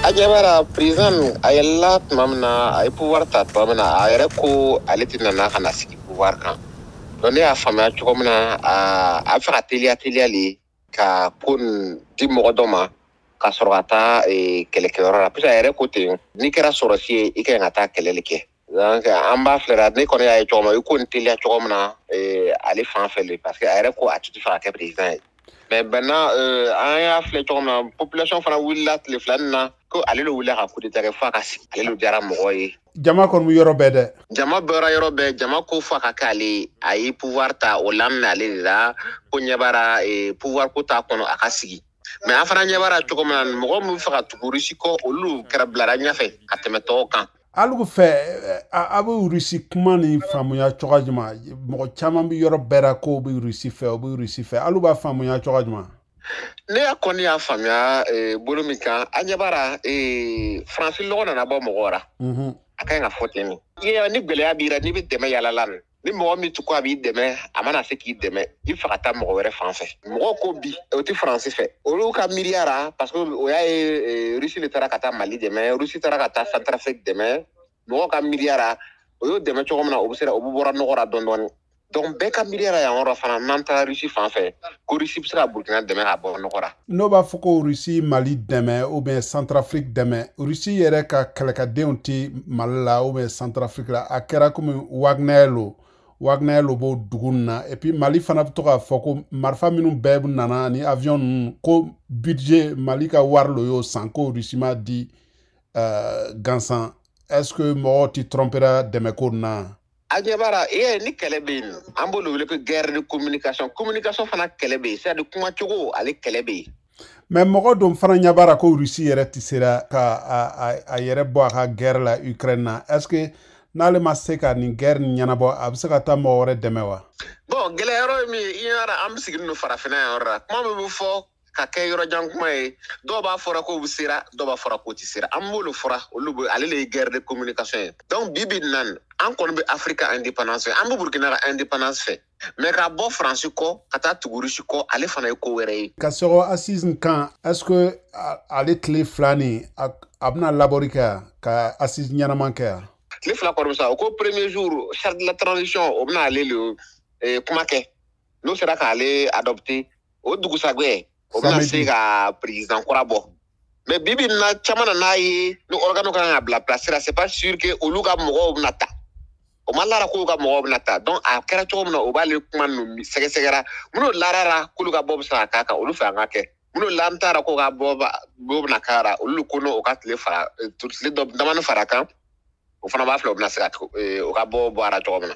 a ɲɛ b'a ra président min a yɛlɛla tuma min na a ye pouvoir ta tuma min na a yɛrɛ ko ale tɛ nana ka na sigi pouvoir kan donc ne y'a faamuya cogo min na a a bɛ fɛ ka teliya teliya le ka ko nin di mɔgɔ dɔ ma ka sɔrɔ ka taa eh, kɛlɛkɛyɔrɔ la parce que a yɛrɛ ko ten n'i kɛra sɔrɔsi ye i ka ɲi ka taa kɛlɛ le kɛ donc an b'a filɛra ne kɔni y'a ye cogo min i ko nin teliya cogo min na eh, ale fan fɛ le parce que a yɛrɛ ko a tun ti fɛ ka kɛ président ye mais maintenant euh, an y'a filɛ cogo min na population fana wulila tile fila nin na ko ale le wulila ka coup d'état kɛ fo a ka sigi ale le diyara mɔgɔ ye jama kɔni bɛ yɔrɔ bɛɛ dɛ jama bɔra yɔrɔ bɛɛ jama ko fo a ka kɛ ale ye a ye pouvoir ta o laminɛ ale de la ko ɲɛ b'a ra eh, pouvoir ko t'a kɔnɔ a ka sigi mais an fana ɲɛ b'a ra cogo min na mɔgɔ min bɛ fɛ ka tugu rusi kɔ olu kɛra bilara ɲɛfɛ ka tɛmɛ tɔw kan alugu fɛ a bɛ rusi kuma nin faamuya cogo jumɛn mɔgɔ caman bɛ yɔrɔ bɛɛ la k'o bɛ rusi fɛ o bɛ rusi fɛ alu b'a faamuya cogo jumɛn ne y'a kɔni y'a faamuya eh, bolo min kan a ɲɛ b'a ra eh, faransi lɔgɔ nana bɔ mɔgɔ ra a ka ɲi ka fɔ ten ni gɛlɛya b'i ra n'i bɛ dɛmɛ yalala ni mɔgɔ min tun ko a b'i dɛmɛ a ma na se k'i dɛmɛ i fɛ ka taa mɔgɔ wɛrɛ fan fɛ mɔgɔ ko bi o tɛ faransi fɛ olu ka miiriya ra parce que o y'a ye eh, rusi le taara ka taa mali dɛmɛ rusi taara ka taa santarafrik dɛmɛ mɔgɔ ka miiriya ra o y'o dɛmɛ cogo min na o bɛ o bɛ bɔra nɔgɔ ra dɔɔni dɔɔni donc bɛɛ ka miiriya ra yan yɔrɔ fana n'an taara rusi fan fɛ ko rusi bɛ se ka burukina dɛmɛ ka bɔ nɔgɔ ra n'o b'a fɔ ko rusi mali dɛmɛ ou bien santarafiriki dɛmɛ rusi yɛrɛ ka kɛlɛkɛdenw tɛ mali la ou bien santarafiriki la a kɛra komi wagner lo wagner lo b'o dugu ninnu na et puis mali fana bɛ to k'a fɔ ko marifa minnu bɛɛ nana ni avion ninnu ko budget mali ka wari lo y'o san ko rusi m'a di uh, gansan est ce que mɔgɔw tɛ trompera dɛmɛko nin na a ɲɛ b'a ra ee ni kɛlɛ bɛ yen an b'o lo wele ko guerre de communication communication fana kɛlɛ bɛ yen c'est à dire kuma cogo ale kɛlɛ bɛ yen. mais mɔgɔ dɔw fana ɲɛ b'a ra ko rusi yɛrɛ tɛ sera ka a a a yɛrɛ bɔ a ka guerre la ukraine na est ce que n'ale ma se ka nin guerre nin ɲɛnabɔ a bɛ se ka taa mɔgɔ wɛrɛ dɛmɛ wa. bon gɛlɛya yɔrɔ ye min ye i ɲɛ b'a la an bɛ sigilen don farafinna yan yɔrɔ la kuma min bɛ fɔ ka kɛ yɔrɔ jan kuma ye dɔw b'a fɔra k'o bɛ sera dɔw b'a fɔra k'o ti sera an b'o lo fɔra olu bɛ ale le ye guerre de communication ye donc bi bi nan an kɔni bɛ afrique ka indépendance fɛ an bɛ burkina ka indépendance fɛ mais ka bɔ faransi kɔ ka taa tugu rusi kɔ ale fana ye ko wɛrɛ ye ka sɔgɔ assise kan est ce que ale tile fila nin a bɛna labɔri kɛ yan ka assise ɲɛnaman kɛ yan tile fila kɔni sa o ko premier jour charte de la transition o bɛna ale le eh, kuma kɛ n'o sera k'ale adɔpte o dugusagɛ o bɛna se ka peresidan kura bɔ mɛ bibi na caman nan'a ye ni ɔrigani kan ka bila pilasi ra se pa suri ke olu ka mɔgɔw bɛna ta o ma l'a ra k'u ka mɔgɔw bɛna ta dɔnki a kɛra cogo min na o b'ale kuma ninnu sɛgɛsɛgɛra minnu lar'a ra k'olu ka bɔ bɛ se ka k'a kan olu fɛ an ka kɛ minnu lalen t'a ra k'o ka bɔ bɛna k'a ra olu ko o ka tile fara damani far'a kan o fana b'a filɛ o bɛna se ka o ka bɔ bɔ a ra cogo min na